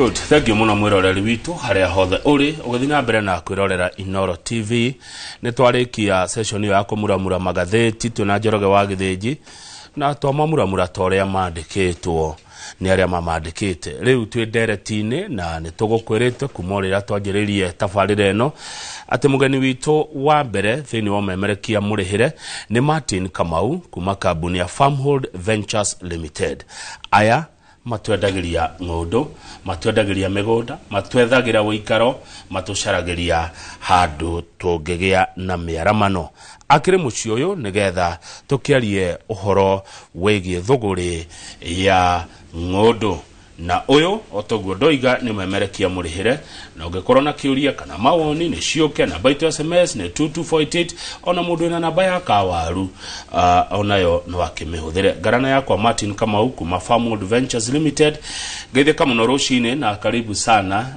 good thank you muno mwiroreri witũ harĩa hothe ũrĩ ũgĩthiĩ na mbere na kwĩrorera inoro tv nĩ twarĩkia session ĩyo ya kũmuramura magathĩti twĩna njoroge wa gĩthĩnji na twamamuramura ta ũrĩa mandĩkĩtwo nĩ arĩa mamandĩkĩte rĩu twĩ ndereti-inĩ na nĩ tũgũkwĩrĩte kuma o rĩrĩa twanjĩrĩirie tabarĩra ĩno atĩ mũgeni witũ wa mbere thĩinĩ wa ũmemerekia mũrĩhĩre nĩ martin kamau kuma kambuni ya farmhold ventures limited aya matwendagĩria ng'ũndũ matwendagĩria mĩgũnda matwethagĩra ũikaro matũcaragĩria handũ tũngĩgĩa na mĩaramano akĩrĩ mũciĩ ũyũ nĩgetha tũkĩarie ũhoro wĩgiĩ thũgũrĩ ya ng'ũndũ na ũyũ otoguo ndoiga nĩ memerekia mũrĩhĩre na ũngĩkorwo na kĩũria kana mawoni nĩ ciũke namba itũ sms nĩ 2248 ona mũndũ wĩna namba ya kawaru uh, onayo no akĩmĩhũthĩre ngarana yakwa martin kamau kuma farmwold ventures limited ngeithĩka mũno rũcinĩ na karibu sana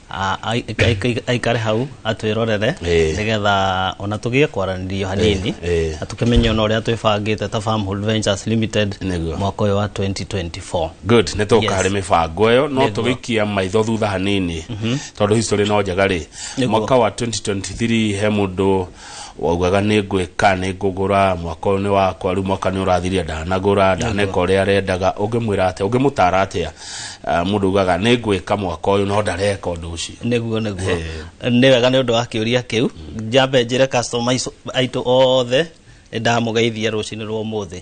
Ah, ai- ai- ai- aikare hau atwirorere Eh. nigetha ona tugie kwaranirio hanini eh. na tukimenye ona uria twibangite ta Farmhold Ventures Limited Nĩguo. mwaka uyu wa 2024 good nä tå Yes. karä mä bango ä yo no Nĩguo. tå gä ikia maitho thutha hanini tondå history no njega rä Nĩguo. mwaka wa 2023 he må ndå waugaga nĩ ngwĩka nĩ ngũgũra mwaka ũyũ nĩ wakwa rĩu mwaka nĩ ũrathiria ndanagũra ndaneka ũrĩa arendaga ũngĩmwĩra atĩa ũngĩmũtara atĩa Ah, mũndũ ugaga nĩ ngwĩka mwaka ũyũ no ndareka ũndũ ũcio nĩguo nĩguo Eh. nĩ wega nĩ ũndũ wa kĩũria kĩu njambe njĩre customer icu- aitũ othe nĩ ndamũgeithia rũcinĩ rwa ũmũthĩ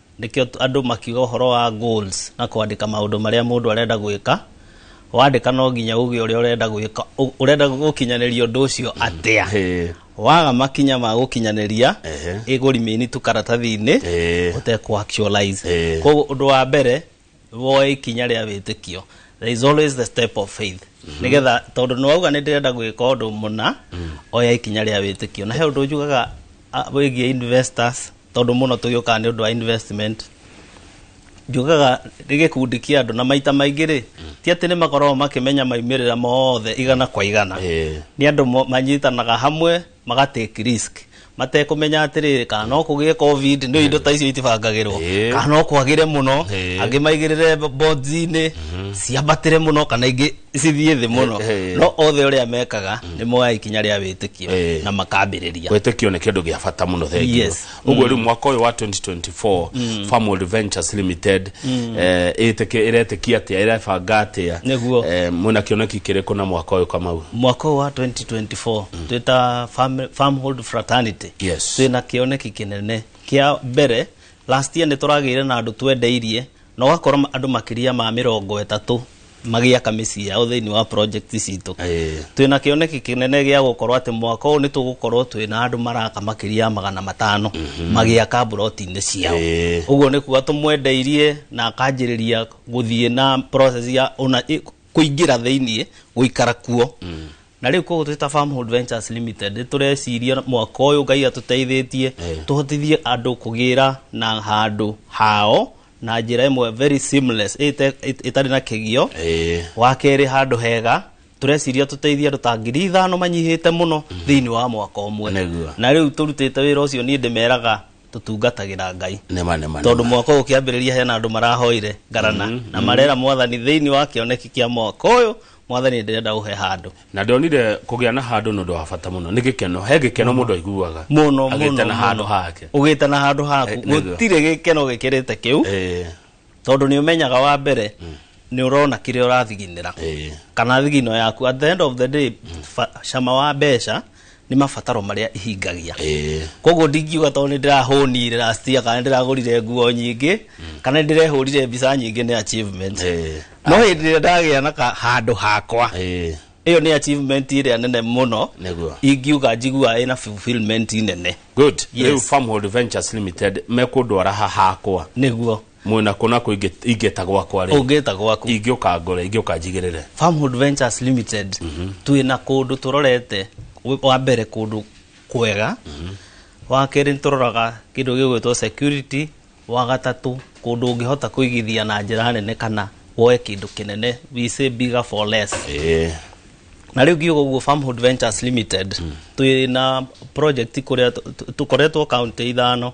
nĩkĩo andũ makiuga ũhoro wa goals na kwandĩka maũndũ marĩa mũndũ arenda gwĩka wandĩka no nginya uge ũrĩa ũrenda gwĩka ũ- ũrenda gũkinyanĩria ũndũ ũcio atĩa Eh, waga makinya ma gũkinyanĩria Ehe. ĩgũrimĩni tu karatathi-inĩ Eh. ũtekũ actualize Eh. koguo ũndũ wa mbere woe ikinya rĩa wĩtĩkio there is always the step of faith nĩgetha tondũ nĩwauga nĩ ndĩrenda gwĩka ũndũ mũna oya ikinya rĩa wĩtĩkio na he ũndũ njugaga ah, wĩgiĩ investors tondũ mũno tũgĩũkaga nĩ ũndũ wa investment njugaga nĩ gĩkundi kĩa andũ na maita maingĩ rĩ ti atĩ nĩ makoragwo makĩmenya maimĩrĩra mothe igana kwa igana Eh. nĩ andũ mo- manyitanaga hamwe magatake risk matekũmenya atĩrĩrĩ kana no kũgĩe covid nĩ indo ta icio itibangagĩrwo Eh. kana no kwagĩre mũno Eh. angĩ maigĩrĩre bonzi-inĩ ciambatĩre mũno kana ingĩ cithiĩ thĩ mũno Eh, eh. no othe ũrĩa mekaga nĩ moya ikinya rĩa wĩtĩkio Eh. na makambĩrĩria wĩtĩkio nĩ kĩndũ gĩa bata mũno thengiũ Yes. uguo riu mwaka uyu wa 2024 Farmwood Ventures Limited eh, ĩtĩkĩ- ĩretĩkia atia ĩrebanga atia Nĩguo. eh, mwĩna kĩoneki kĩrĩkũ na mwaka uyu kamau mwaka ũyũ wa 2024 twĩ ta farm- farmhold fraternity Yes. twĩ na kĩoneki kĩnene kĩa mbere last year nĩ tũragĩire na andũ twendeirie Na ũgakora andũ makĩria ma mĩrongo ĩtatũ magĩaka mĩciĩ yao thĩinĩ wa project citũ twĩna kĩoneki kĩnene gĩa gũkorwo atĩ mwaka ũyũ nĩ tũgũkorwo twĩna andũ maraka makĩria ya magana matano magĩaka mburoti-inĩ ciao Ĩĩ. ũguo nĩ kuga tũmwendeirie na akanjĩrĩria gũthiĩ na process ya ona ĩ- kũingĩra thĩinĩ gũikara kuo na rä u koguo twä ta Farmhold Ventures Limited nĩ tũreciria mwaka ũyũ ngai atũteithĩtie tũhotithie andũ kũgĩra na handũ hao na njĩra ĩmwe very seamless ĩte- ĩt- ĩtarĩ na kĩgio Ĩĩ. wa kerĩ handũ hega tũreciria tũteithie andũ ta ngiri ithano manyihĩte mũno thĩinĩ wa mwaka ũmwe Nĩguo. na rĩu tũrutĩte wĩra ũcio niĩ ndĩmeraga tũtungatagĩra ngai nema nema tondũ nema. mwaka ũyũ ũkĩambĩrĩria hena andũ marahoire ngarana na marera mwathani thĩinĩ wa kĩoneki kĩa mwaka ũyũ mwathani ndĩrenda ũhe handũ na ndonire kũgĩa na handũ nĩ ũndũ wa bata mũno nĩ gĩkeno he gĩkeno mũndũ aiguaga mũno agĩte na handũ hake ũgĩte na handũ haku Eh, nĩguo. gũtirĩ gĩkeno gĩkĩrĩte kĩu Eh, tondũ nĩ ũmenyaga wa mbere nĩ ũrona kĩrĩa ũrathiginĩra eh. kana thigino yaku at the end of the day fa- cama wa mbeca nĩ mabataro marĩa ihingagia Ĩĩ. koguo ndingiuga tondũ nĩ ndĩrahũnire last year kana nĩ ndĩragũrire nguo nyingĩ kana nĩ ndĩrehũrire mbica nyingĩ nĩ achievement Ĩĩ. no hĩndĩ ĩrĩa ndagĩa na ka- handũ hakwa Ĩĩ. ĩyo nĩ achievement ĩrĩa nene mũno Nĩguo. ingiuga njiguaga ĩna fulfillment nene good Yes. rĩu farmhold ventures limited mekũndwara ha hakwa nĩguo mwĩna kũna kũ ingĩ- ingĩta gwakwa rĩ ũngĩta gwaku ingĩũka ngore ingĩũka njigĩrĩre Farmhood Ventures Limited twĩ na kũndũ tũrorete wĩ- wa mbere kũndũ kwega wa kerĩ tũroraga kĩndũ gĩgwĩtwo security wa gatatũ kũndũ ũngĩhota kũigithia na njĩra nene kana woe kĩndũ kĩnene we say bigger for less Ĩĩ. na rĩu ngiuga ũguo Farmhood Ventures Limited twĩ na project kũrĩa tũ- tũ- tũkoretwo kaunti ithano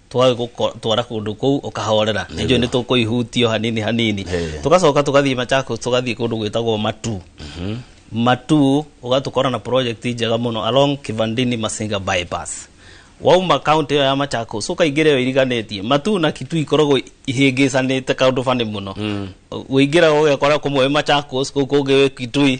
twagũtwara kũndũ kũu ũkahorera nĩnjũĩ nĩ tũkũihutio hanini hanini Ĩĩ. tũgacoka tũgathiĩ machakos tũgathiĩ kũndũ gwĩtagwo matu matu ũgatũkora na project njega mũno along kivandini masinga bypass wauma kaunti ĩyo ya machakos ũkaingĩra ĩyo iriganĩtie matu na kitu ikoragwo ihĩngĩcanĩte kaũndũ fanĩ mũno ũingĩraga ũgekora kũmwe wĩ machakos kũu kũngĩ wĩ kitui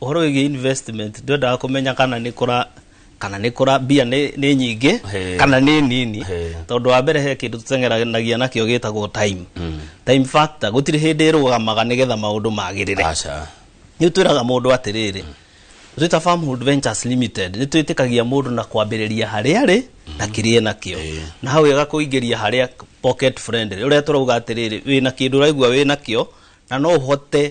Ũhoro wĩgiĩ investment ndwendaga kũmenya kana nĩ kũra kana nĩ kũra mbia nĩ nĩ nyingĩ He. kana nĩ nini He. tondũ wa mbere he kĩndũ tũteng'eranagia nakĩo gĩtagwo time time factor gũtirĩ hĩndĩ ĩrũgamaga nĩgetha maũndũ magĩrĩre aca nĩ twĩraga mũndũ atĩrĩrĩ twĩta farmhood ventures limited nĩ twĩtĩkagia mũndũ na kwambĩrĩria harĩa arĩ na kĩrĩa nakĩo Ĩĩ. na hau ega kũingĩria harĩa pocket friendly ũrĩa tũrauga atĩrĩrĩ wĩna kĩndũ ũraigua wĩna kĩo na no ũhote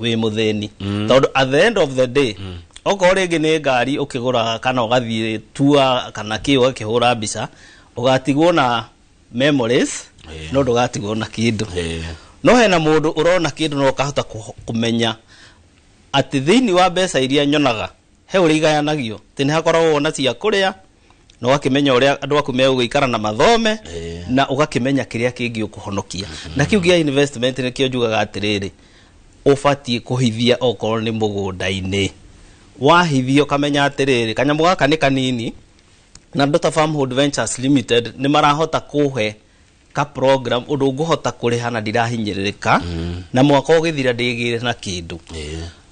wĩ mũthĩni tondũ at the end of the day okorwo rĩngĩ nĩ ngari ũkĩgũraga kana ũgathiĩ tua kana kĩ ũgakĩhũra mbica ũgatigwo na memories Eh. no ndũgatigwo na kĩndũ Eh. no hena mũndũ ũrona kĩndũ no ũkahota kũ- kũmenya atĩ thĩinĩ wa mbeca iria nyonaga he ũrĩa igayanagio atĩ nĩ hakoragwo na cia kũrĩa na ũgakĩmenya ũrĩa andũ aku megũgĩikara na mathome na ũgakĩmenya kĩrĩa kĩngĩ ũkũhonokia na kĩu gĩa investment nĩkĩo njugaga atĩrĩrĩ ũbatiĩ kũhithia okorwo nĩ mũgũnda-inĩ wahithia ũkamenya atĩrĩrĩ kanyamũ gaka nĩ kanini na Dota Farmhold Ventures Limited nĩ marahota kũhe ka program ũndũ ngũhota kũrĩha na ndirahinyĩrĩrĩka na mwaka ũgĩthira ndĩgĩre na kĩndũ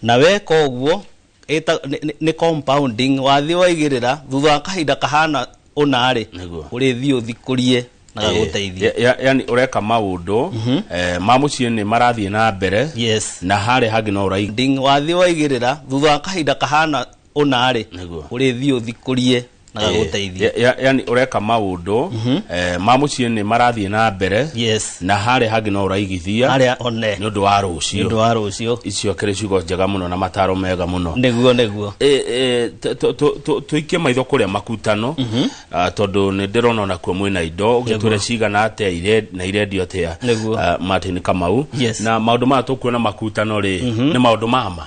na weka ũguo Ĩta, nĩ, nĩ- nĩ compounding wathiĩ waigĩrĩra thutha wa kahinda kahana ũna-rĩ Nĩguo. ũrĩthiĩ ũthikũrie na gagũteithie Ya- ya- yani ũreka maũndũ eh, ma mũciĩ nĩ marathiĩ na mbere yes na harĩa hangĩ no ũrai Ding, wathiĩ waigĩrĩra thutha wa kahinda kahana ũna-rĩ Nĩguo. ũrĩthiĩ ũthikũrie na gagũteithie Ya- ya- yani ũreka maũndũ eh, ma mũciĩ nĩ marathiĩ na mbere yes na harĩa hangĩ no ũraigithia harĩa one nĩ ũndũ wa nĩ ũndũ rũciũ wa rũciũ icio kĩrĩ ciugo njega mũno na mataro mega mũno nĩguo nĩguo Eh, eh, tũ- tũ- tũ- tũ- tũikie maitho kũrĩa makutano Ah, tondũ nĩ ndĩrona onakuo mwĩna indo ũgĩtwĩre cigana atĩa ire- na irendio atĩa Nĩguo. Ah, martin kamau Yes. na maũndũ maya tũkuona makutano rĩ nĩ maũndũ mama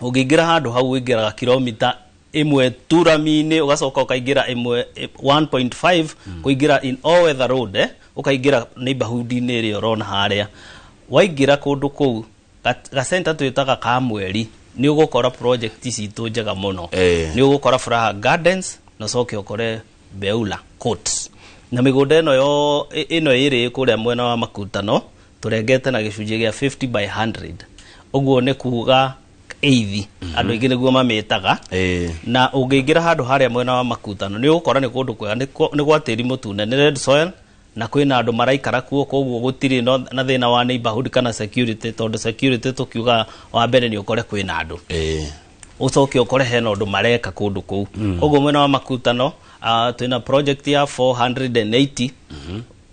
ũngĩingĩra handũ hau ũingĩraga kilomita ĩmwe turaminĩ ũgacoka ũkaingĩra ĩmwe ĩ- 1.5 kũingĩra in all weather road eh, ũkaingĩra neighborhood-inĩ ĩrĩa ũrona harĩa waingĩra kũndũ kũu ga- gacenta twĩtaga ka mweri nĩ ũgũkora project citũ njega mũno Eh. nĩ ũgũkora Furaha Gardens na ũcoke ũkore Beula Coats. Na mĩgũnda ĩno yo ĩno ĩrĩ kũrĩa mwena wa Makutano tũrengete na gĩcunjĩ gĩa 50 by 100. Ũguo nĩ kuuga eithi andũ aingĩ nĩguo mamĩtaga Eh. na ũngĩingĩra handũ harĩa mwena wa makutano nĩ ũgũkora nĩ kũndũ kwega nĩ kwa- nĩ gwa tĩri mũtune nĩ red soil na kwĩna andũ maraikara kuo koguo gũtirĩ no- na thĩna wa neighborhood kana security tondũ security tũkiuga wa mbere nĩ ũkore kwĩna andũ Eh. ucoke ukore hena undu mareka kundu kuu koguo mwena wa makutano ah, twina project ya 480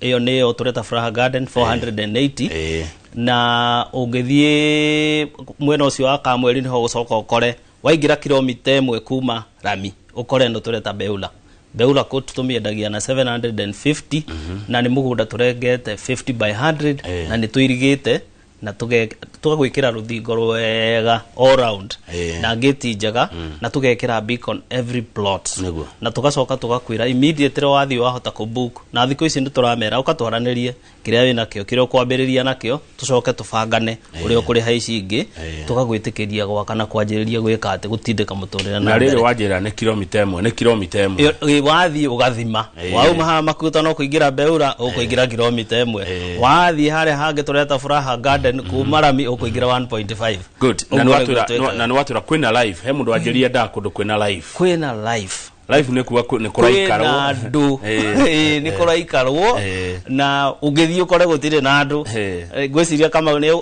iyo ni yo tureta furaha garden 480 Eh. na ũngĩthiĩ mwena ũcio wa kamweri nĩho ũgũcoka ũkore waingĩra kilomita ĩmwe kuma rami ũkore nĩ tũreta beula beula kũ tũmĩendagia na 750 na nĩ mũgũnda tũrengete 50 by 100 Eh. na nĩ tũirigĩte na tũge- tũgagwĩkĩra rũthingo rwega all round Eh. na ngĩti njega na tũgekĩra beacon every plot Nĩguo. na tũgacoka tũgakwĩra immediately wathiĩ wahota kũbook na thikũ ici nĩtũramera ũkatwaranĩrie kĩrĩa wĩ nakĩo kĩrĩa ũkwambĩrĩria nakĩo tũcoke tũbangane ũrĩa ũkũrĩha ici ingĩ Eh. tũgagwĩtĩkĩria gwaka na kwanjĩrĩria gwĩka atĩ gũtindĩka mũtũrĩre na na rĩrĩ rĩrĩ wanjĩra nĩ kilomita ĩmwe nĩ kilomita ĩmwe Ĩ- ĩ- wathiĩ ũgathima Ĩĩ. wauma haha makuta no kuingira mbeura ukuingira kilomita imwe Ĩĩ. wathiĩ harĩa hangĩ tureta furaha garden kuma rami ukuingira 1.5 good na Ũguo nĩguo nĩwatura twĩkaga. na nĩwatura kwĩna live he mũndũ wanjĩria ndaa kũndũ kwĩna live kwĩna life live nĩ kuga kwĩ- nĩ kũraikarwo kwĩna andũ Eh, Ĩĩ, nĩ kũraikarwo Eh. na ũngĩthiĩ ũkore gũtirĩ na andũ Eh. Eh, ngwĩciria kama nĩ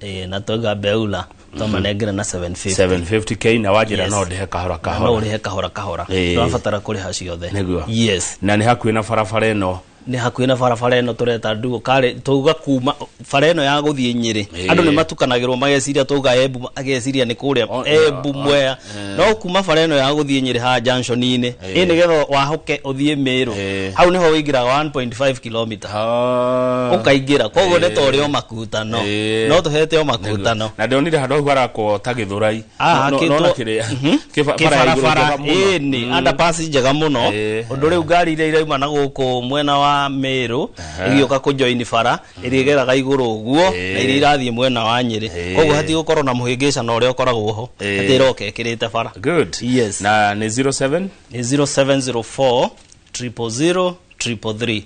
Eh, na twaiga mbeula twamanengera na 750 750k na wanjĩra Yes. no ndĩhe kahora no kahora ũrĩhe kahora kahora Eh. twabatara kũrĩha ciothe Nĩguo. yes na nĩ hakuhĩ na barabara ĩno nĩ hakuhĩ na barabara ĩno tũreta nduo karĩ twauga kuma bara ĩno ya gũthiĩ nyĩrĩ Eh. andũ nĩ matukanagĩrwo mageciria twauga embu ageciria nĩ kũrĩa embu mwea no kuma bara ĩno ya gũthiĩ nyĩrĩ haha junction-inĩ ĩ nĩgetha wahoke ũthiĩ mĩrũ Eh. hau nĩho wĩingĩraga 1.5 kilomita Ah. ũkaingĩra koguo nĩ tũrĩ o makutano Eh. no tũhete o makutano na ndonire handå hau harakwo ta gä thå rai Ah, akĩtwo- Mhm. kĩbarabara ĩnĩ andapasi njega mũno Eh. ũndũ rĩu ngari iria irauma na gũkũ mwena wa mĩrũ igĩũka kũjoini bara ĩrĩgeraga igũrũ ũguo Ĩĩ. na iria irathiĩ mwena wa nyĩrĩ Ĩĩ. koguo hati gũkorwo na mũhĩngĩcana ũrĩa ũkoragwo ho Ĩĩ. atĩ ĩroka ĩkĩrĩte bara good Yes. na nĩ 07 nĩ 0704 000 333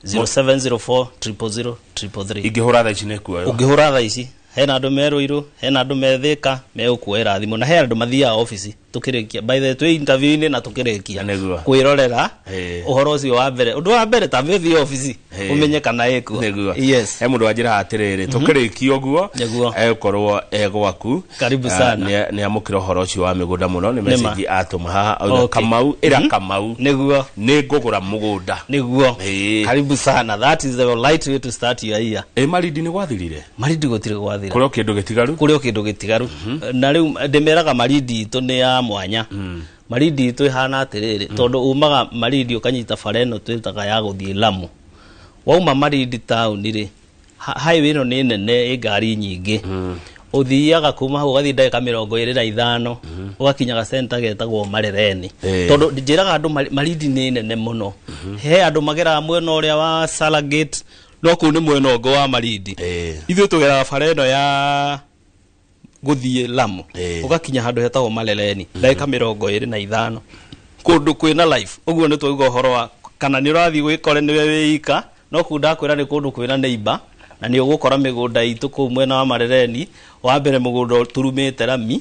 0704 000 333 ingĩhũra thaa ici nĩ kuoyo ũngĩhũra thaa ici hena andũ me rũirũ hena andũ me thĩka megũkuoera thimũ na he andũ mathiaga obici tukirikia by the way twi interview ini na tukirikia Nĩguo. kwirorera Eh. uhoro ucio wa mbere undu wa mbere tambe thi office Eh. umenye kana ikuo niguo yes he mundu wanjira atiriri tukirikia uguo Nĩguo. ekorwo e gwaku Karibu sana. ni amukira uhoro ucio wa migunda muno ni message atuma haha auga Okay. kamau ira kamau niguo ni ngugura mugunda niguo Eh. karibu sana that is the right way to start your year e marindi ni gwathirire marindi gũtirĩ gwathira kũrĩ o kĩndũ gĩtigaru kũrĩ o kĩndũ gĩtigaru na rĩu ndĩmeraga marindi itũ nĩ ya mwanya marindi itũ ĩhana atĩrĩrĩ tondũ umaga marindi ũkanyita bara ĩno twĩtaga ya gũthiĩ lamu wauma marindi taũni rĩ ha- highway ĩno nĩ nene ĩ ngari nyingĩ ũthiaga kuma hau ũgathiĩ ndagĩka mĩrongo ĩrĩ na ithano ũgakinyaga centa getagwo marereni Eh. tondũ njĩraga andũ mari- marindi nĩ nene mũno he andũ mageraga mwena ũrĩa wa Salagate no kũu nĩ mwena ũngĩ wa marindi Eh. ithuĩ tũgeraga bara ĩno ya gũthiĩ lamu Eh. ũgakinya handũ hetagwo marereni ndagĩka mĩrongo ĩrĩ na ithano kũndũ kwĩna life ũguo nĩ twauga ũhoro wa kana nĩ ũrathiĩ gwĩkore nĩwe wĩika no kũu ndakwĩra nĩ kũndũ kwĩna neighbor na nĩ ũgũkora mĩgũnda itũ kũu mwena wa marereni wa mbere mũgũnda ũturumĩte rami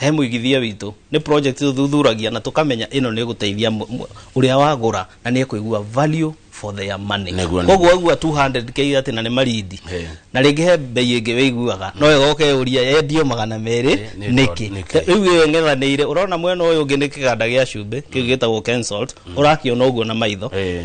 he mũigithia witũ nĩ project tuthuthuragia na tũkamenya ĩno nĩ gũteithia mũ- mũ- ũrĩa wagũra na nĩ ekũigua value for their money Nĩguo, koguo aigua 200k atĩ na nĩ marindi Eh. na rĩngĩ he mbei ĩngĩ wĩiguaga no ĩgoke ũria yendio magana merĩ Eh, nĩ nĩkĩ tondũ- nĩkĩ? rĩu ĩyo ng'ethanĩire ũrona mwena ũyũ ũngĩ nĩ kĩganda gĩa cumbĩ kĩu gĩtagwo Kensalt ũrakĩona ũguo na maitho Eh,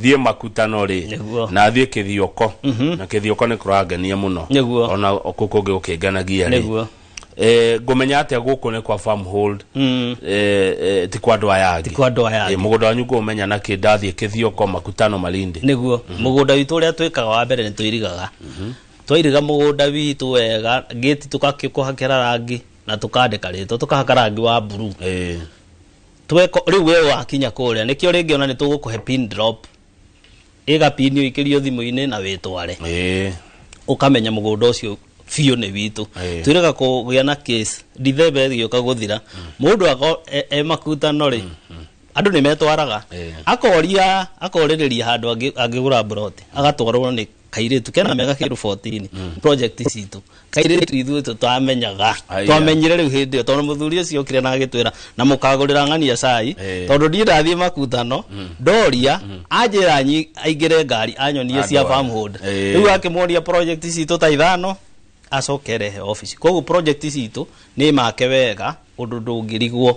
thiä makutano rä Nĩguo. na thiä kä thioko na kä thioko nä kå rangenia må no Nĩguo. ona kå kå ngä gå kä nganagia rä Nĩguo. ngå menya atä a gå kå nä kwa farm hold Mm. eh, eh, ti kwa andå aya angä kwa andũ aya angĩ. må gå nda wanyu ngå menya nakä ndathiä kä thioko makutano malindi nĩguo mũgũnda witũ ũrĩa twĩkaga wa mbere nĩ tũirigaga twairiga mũgũnda witũ wega gĩti tũgakĩkũhakĩra rangi na tũkandĩka rĩtwa tũkahaka rangi wa buruu Eh, tweko riu we wakinya kuria nikio ringi ona nitugukuhe pin drop iga pin iyo ikirio thimu-ini na witware Eh, ukamenya mugunda ucio biũ nĩ witũ Ĩĩ. twĩrĩga kũgĩa na case ndithembe gĩũka gũthira mũndũ ako e- e makutano rĩ andũ nĩ metwaraga Ĩĩ. akoria akorĩrĩria handũ angĩ- angĩgũra mburoti agatwarwo nĩ kairĩtu kena mĩaka kĩndũ 14 project citũ kairĩtu ithuĩ tũ- twamenyaga Aya. twamenyire rĩu hĩndĩ ĩyo tondũ mũthuri ũcio okire na agĩtwĩra na mũkagũrĩra ng'ania cai Eh. tondũ ndiĩ ndathiĩ makutano ndoria anjĩra nyi- aingĩre ngari anyonie cia Andũ aya. farmhold Eh. rĩu akĩmuonia project citũ ta ithano acoke rehe office koguo project citũ nĩ make wega ũndũ ndũngĩrigwo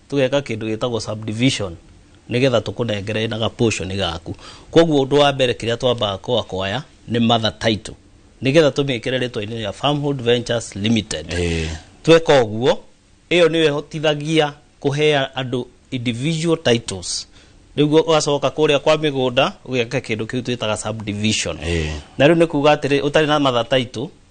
tũgeka kĩndũ gĩtagwo subdivision nĩgetha tũkũnengere na gaportion gaku koguo ũndũ wa mbere kĩrĩa twambaga kwakoya nĩ mother title nĩgetha tũmĩkĩre rĩtwa-inĩ rĩa farmhood ventures limited Eh. tweka ũguo ĩyo nĩyo ĩhotithagia kũhea andũ individual titles rĩu ũgacoka kũrĩa kwa mĩgũnda ũgeka kĩndũ kĩu twĩtaga subdivision Eh. na rĩu nĩ kuga atĩrĩ ũtarĩ na mother title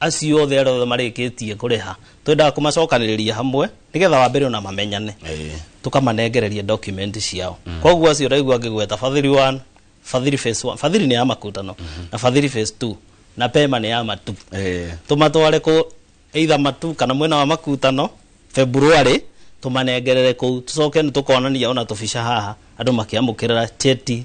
acio othe arĩa othe marĩkĩtie kũrĩha twendaga kũmacokanĩrĩria hamwe nĩgetha wa mbere ona mamenyane Eh. tũkamanengereria document ciao koguo acio ũraigua ngĩgweta fadhili 1 fadhili phase 1 fadhili nĩ ya makutano na fadhili phase 2 na pema nĩ ya matu Eh. tũmatware kũ either matu kana mwena wa makutano february tũmanengerere kũu tũcoke nĩ tũkonania ona tũbica haha andũ makĩamũkĩrĩra cheti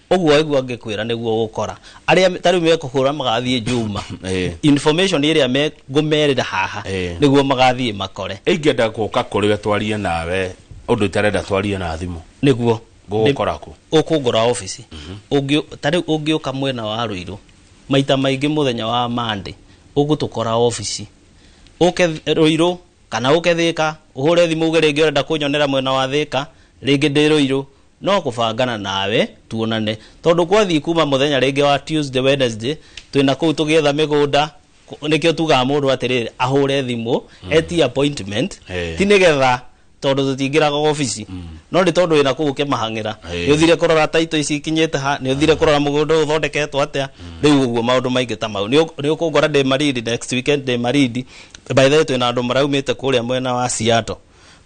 Ũguo waigua ngĩkwĩra nĩguo ũgũkora. Arĩa me- ta rĩu mekũhũra magathiĩ Juma. Eh. Information ĩrĩa me- ngũmerĩra haha Eh. nĩguo magathiĩ makore. ingĩenda gũka kũrĩ we twarie nawe ũndũ itarenda twarie na thimũ Nĩguo. ngũgũkora kũ ũkũngora obici Ũngĩ- ta rĩu ũngĩũka mwena wa rũirũ maita maingĩ mũthenya wa mande ũgũtũkora obici ũke th- rũirũ kana ũke thĩka ũhũre thimũ uge rĩngĩ ũrenda kũnyonera mwena wa thĩka rĩngĩ ndĩ rũirũ No kũbangana nawe tuonane tondũ kwathiĩ kuma mũthenya rĩngĩ wa Tuesday, Wednesday twĩna kũu tũgĩetha mĩgũnda kũ- nĩkĩo tugaga mũndũ atĩrĩrĩ ahũre thimũ etie appointment Eh. ti nĩgetha tondũ tũtingĩraga obici no nĩ tondũ wĩna kũu ũkĩmahang'ĩra Eh. nĩ ũthire kũrora taito ici ikinyĩte ha nĩ ũthire kũrora mũgũnda ũyũ ũthondeketwo atĩa rĩu ũguo maũndũ maingĩ ta mau Nĩ ũ- nĩ ũkũngora ndĩ marindi next weekend ndĩ marindi by the way twĩna andũ maraumĩte kũrĩa mwena wa Seattle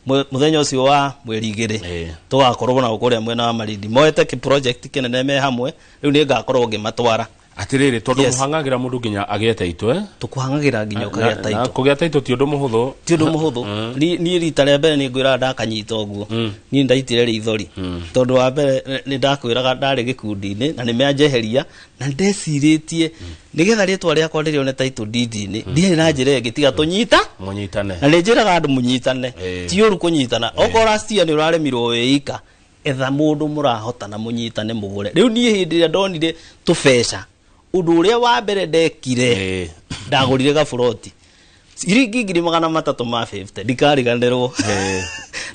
Mwe- muthenya ucio wa mweri igiri Eh. tugakorwo nao kuria mwena wa marindi moete ki project kinene me hamwe riu ni ngakorwo ngimatwara atiriri tondu Yes. muhangagira mundu nginya agĩa taitũ eh? tukuhangagira nginya Na- ukagĩa na taito kũgĩa taitũ ti ũndũ mũhũthũ ti undu muhuthu Ni- niĩ rita rĩa mbere nĩ ngwĩraga ndakanyita ũguo niĩ ndaitire rĩithori tondũ wa mbere nĩ ndakwĩraga ndarĩ gĩkundi-inĩ na nĩ mĩanjeheria na ndecirĩtie nĩgetha rĩtwa rĩakwa rĩrĩone taitũ ndindi-inĩ ndirĩ na njĩra ĩngĩ tiga tũnyita munyitane na nĩ njĩraga andũ mũnyitane Eh. ti ũru kũnyitana okorwo rastia nĩ ũraremirwo wĩika etha mũndũ mũrahotana mũnyitane mũgũre rĩu niĩ hĩndĩ ĩrĩa ndonire tũbeca ũndũ ũrĩa wa mbere ndekire Eh. ndagũrire gaburoti ciringi ngiri magana matatũ ma 50 ndikariganĩrwo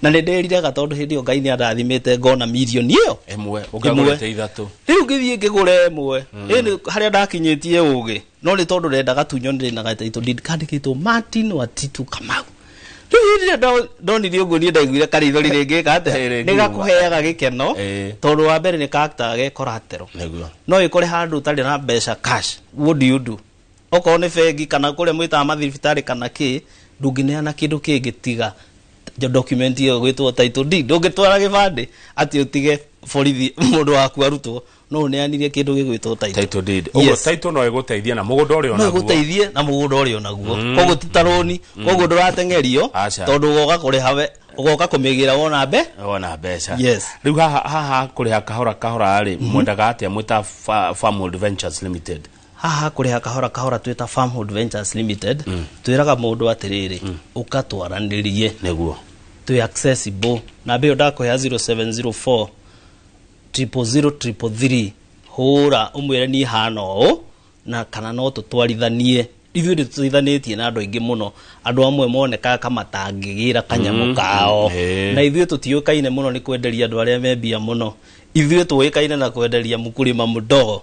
na nĩ ndĩriraga tondũ hĩndĩ ĩyo ngai nĩ arathimĩte ngona mirioni ĩyo ĩmwe Ĩmwe. ũkagũrĩte ithatũ rĩu ngĩthiĩ ngĩgũra ĩmwe ĩnĩ harĩa ndakinyĩtie ũgĩ no nĩ tondũ renda gatunyo nĩ rĩna gataitũ ndindi kandĩkĩtwo martin watitu kamau rĩu hĩndĩ ĩrĩa ndo- ndonire ũguo niĩ ndaiguire karithori rĩngĩka Eh, atĩa rĩngiuma. nĩ gakũheaga gĩkeno Eh. tondũ wa mbere nĩ karaktaga ge koratero nĩguo no ĩkore handũ ũtarĩ na mbeca cash what do you do Okorwo nĩ bengi kana kũrĩa mwĩtaga mathibitarĩ kana kĩ, ndũngĩneana kĩndũ kĩngĩ tiga document ĩyo ĩgwĩtwo title deed. Ndũngĩtwara gĩbandĩ atĩ ũtige borithi mũndũ waku arutwo. No ũneanire kĩndũ gĩgwĩtwo title. Title deed. Ũguo Yes. title no ĩgũteithie na mũgũnda ũrĩa no onaguo. ĩgũteithie na mũgũnda ũrĩa onaguo koguo ti ta rũni koguo ndũrateng'erio Aca. tondũ ũgoka kũrĩha we ũgoka kũmĩgĩra wona mbe wona mbeca Yes. rĩu haha haha kũrĩha kahora kahora rĩ mwendaga atĩa mwĩta Fa- Farmworld Ventures Limited haha kũrĩha kahora kahora twĩ ta Farmhold Ventures Limited mm. twĩraga mũndũ atĩrĩrĩ mm. ũka twaranĩrie nĩguo twĩ accessible na mbĩyo ndakũhe 0704 00033 hũra ũmwĩre niĩ hana ũũ na kana no tũtwarithanie ithuĩ nĩ tũteithanĩtie na andũ aingĩ mũno andũ amwe monekaga kamatangĩgĩra kanyamũ mm, kao mm, na ithuĩ tũtiũkaine mũno nĩ kwenderia andũ arĩa membia mũno ithuĩ tũĩkaine na kwenderia mũkũrĩma mũdogo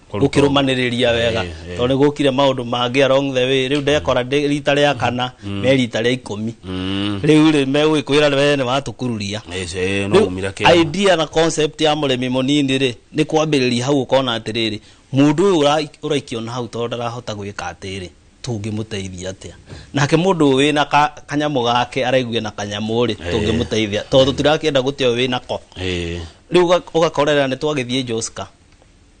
gukirumaniria wega to ni gukire maundu mangi along the way riu ndekora ndi rita ria kana me rita ria ikumi riu ri megwikwira we ni watukururia Rĩu idea na concept ya murimi munini ri ni kwambiriria hau ukona atiriri mundu uyu ura- uraikio na hau tondu ndarahota gwika atiri tungimuteithia atia nake mundu uyu wina ka- kanyamu gake araigua na kanyamu ri tungimuteithia tondu tirakienda gutia uyu wina ko riu ugakorera ni twagithie joska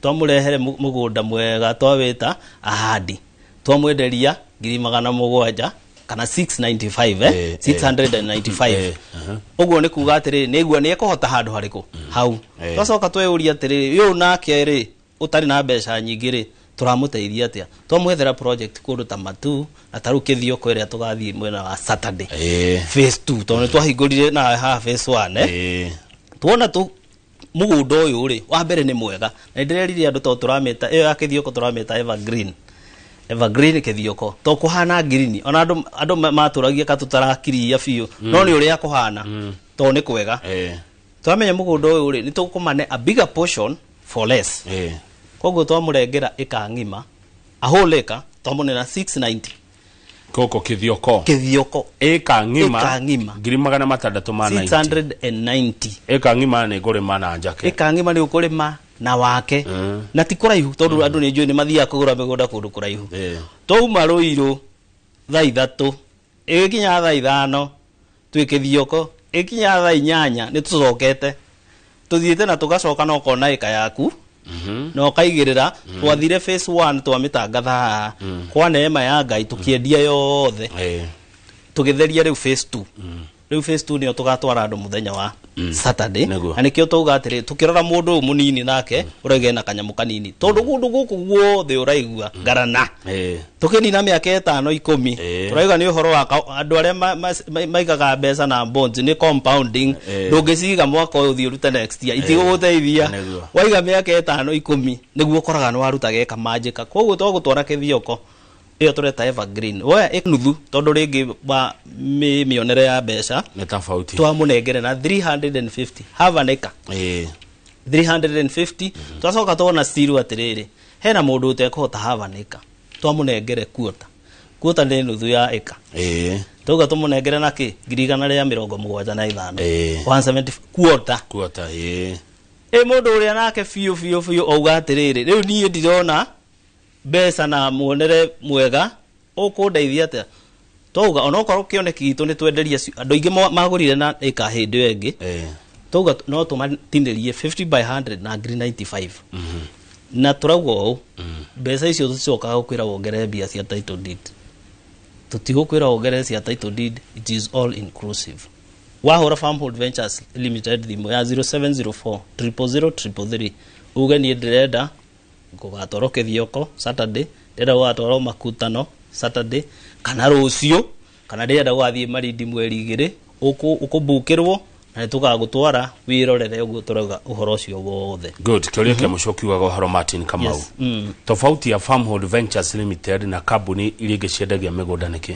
twamũrehere mũ- mũgũnda mwega twawĩta ahandi twamwenderia ngiri magana mũgwanja kana 695 eh? Eh, 695 eh, aha. ũguo nĩ kuga atĩrĩ nĩgua nĩ ekũhota handũ harĩkũ hau Eh. twacoka tweyũria atĩrĩ ũyũ nake rĩ ũtarĩ na mbeca nyingĩ rĩ tũramũteithia atĩa twamwethera project kũndũ ta matu na tarĩu kĩthio kwerĩa tũgathiĩ mwena wa saturday Eh. phase 2 tondũ nĩ twahingũrire na haha phase 1 eh? Eh, tuona tu mũgũnda ũyũ rĩ wa mbere nĩ mwega na ndĩrerire andũ to tũrameta ĩyo ya kĩthioko tũrameta evergreen evergreen kĩthioko to kũhana ngirini ona andũ andũ ma- matũragia ka tũtarakiria biũ no nĩ ũrĩa kũhana to nĩ kwega Eh, twamenya mũgũnda ũyũ rĩ nĩ tũkũmane a bigger portion for less eh. koguo twamũrengera ĩka ng'ima ahũlĩka twamũnena 690 Koko kithioko. Kithioko. Eka ngima. Eka ngima. Ngiri magana matandatu ma 90. 690. Eka ngima ni kurima na njake. Eka ngima ni ukurima na wake. Mm. Na ti kuraihu tondu mm. andu ni njui ni mathiaga kugura migunda kundu kuraihu. Yeah. Twauma ruiru thaa ithatu. Igikinya thaa ithano twĩ kĩthioko. Ĩgĩkinya thaa inyanya nĩ tũcokete tũthiĩte na tũgacoka na ũkona ĩka yaku na ũkaigĩrĩra twathire phase one twamĩtangatha haha kwa neema ya ngai tũkĩendia yothe Eh, tũgĩtheria rĩu phase two rĩu phase two nĩyo tũgatwara andũ mũthenya wa saturday Nĩguo. na nĩkĩo twauga atĩrĩ tũkĩrora mũndũ ũyũ mũnini nake ũrege na kanyamũ kanini tondũ kũndũ gũkũ guothe ũraigua ngarana Eh, tũkĩnina mĩaka ĩtano ikũmi Eh. tũrauga nĩ ũhoro wa ka- andũ arĩa ma- ma- ma- maigaga mbeca na bonds nĩ compounding Eh. ndũngĩciga mwaka ũyũ thiĩ ũrute next year itigũgũteithia Nĩguo. waiga mĩaka ĩtano ikũmi nĩguo ũkoraga nĩ waruta geka manjĩka koguo to gũtwara kĩthioko ĩyo tũreta evergreen woya ĩ nuthu tondũ rĩngĩ wa mĩ- mĩonere ya mbeca nĩ tofauti twamũnengere na 350 have an acre Ĩĩ. 350 twacoka twona stiru atĩrĩrĩ hena mũndũ ũtekũhota have an acre twamũnengere kuota kuota nĩ nuthu ya acre Ĩĩ. twauga tũmũnengere na kĩ ngiri igana rĩa mĩrongo mũgwanja na ithano Ĩĩ. 170 kuota kuota ĩĩ. ĩ mũndũ ũrĩa nake biũ biũ biũ auga atĩrĩrĩ rĩu niĩ ndirona mbeca na muonere mwega ũkũndeithia atĩa twauga onokorwo kĩoneki gitũ nĩ twenderie ci- andũ aingĩ mo- magũrire na ĩka hĩndĩ ĩyo ĩngĩ Eh. twauga t- no tũmatinĩrie 50 by 100 na ngiri 95 na tũrauga ũũ mbeca icio tũticokaga gũkwĩra wongerere mbia cia title deed tũtigũkwĩra wongerere cia title deed it is all inclusive wahũra farmhold ventures limited thimũ ya 0704 000 uge niĩ ndĩrenda Gũgatwarwo kĩthioko Saturday, ndĩrenda gũgatwarwo makutano Saturday, kana rũciũ, kana ndĩrenda gũgathiĩ marindi mweri igĩrĩ, ũkũ- ũkũmbukĩrwo na nĩtũgagũtwara wĩrorere ũguo tũrauga ũhoro ũcio wothe. good kä å ria kä må cio kiugaga å horo martin kamau Yes, mm. tofauti ya farmhold ventures limited na kambuni iria ingä ciendagia mä gå nda nä kä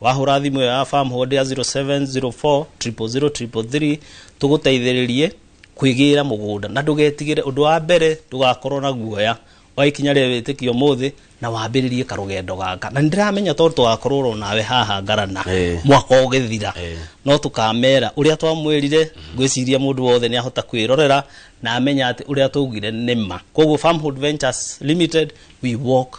Wahũra thimũ ĩyo ya farm hold ya 0704000333 tũgũteithĩrĩrie kwĩgĩra mũgũnda na ndũgetigĩre ũndũ wa mbere ndũgakorwo na guoya wa ikinya rĩa wĩtĩkio ũmũthĩ na wambĩrĩrie karũgendo gaka na nĩndĩramenya tondũ tũgakorwo oro nawe haha ngarana Eh. mwaka ũgĩthira Eh. no tũkamera ũrĩa twamwĩrire ngwĩciria mũndũ wothe nĩ ahota kwĩrorera na amenya atĩ ũrĩa twaugire nĩ ma koguo farmhold ventures limited we walk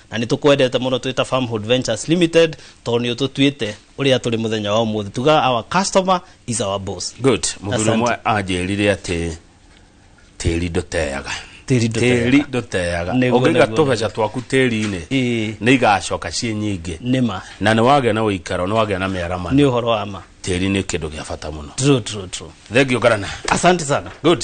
Na nĩ tũkwendete mũno twĩ ta Farmhood Ventures Limited tondũ nĩ ũtũtuĩte ũrĩa tũrĩ mũthenya wa ũmũthĩ. Tugaga our customer is our boss. good mũthuri Asante. ũmwe anjĩrire atĩ tĩri ndũteaga Tĩri ndũteaga. tĩri ndũteaga Nĩguo, ũngĩiga nĩguo, tũbeca twaku tĩri-inĩ Ĩĩ. nĩ igacoka ciĩ nyingĩ Nĩma. na nĩ wagĩa na ũikaro nĩ wagĩa na Nĩ mĩaramano ũhoro wa ma. tĩri nĩ kĩndũ gĩa bata mũno True, true, true. thengiũ ngarana Asante sana. good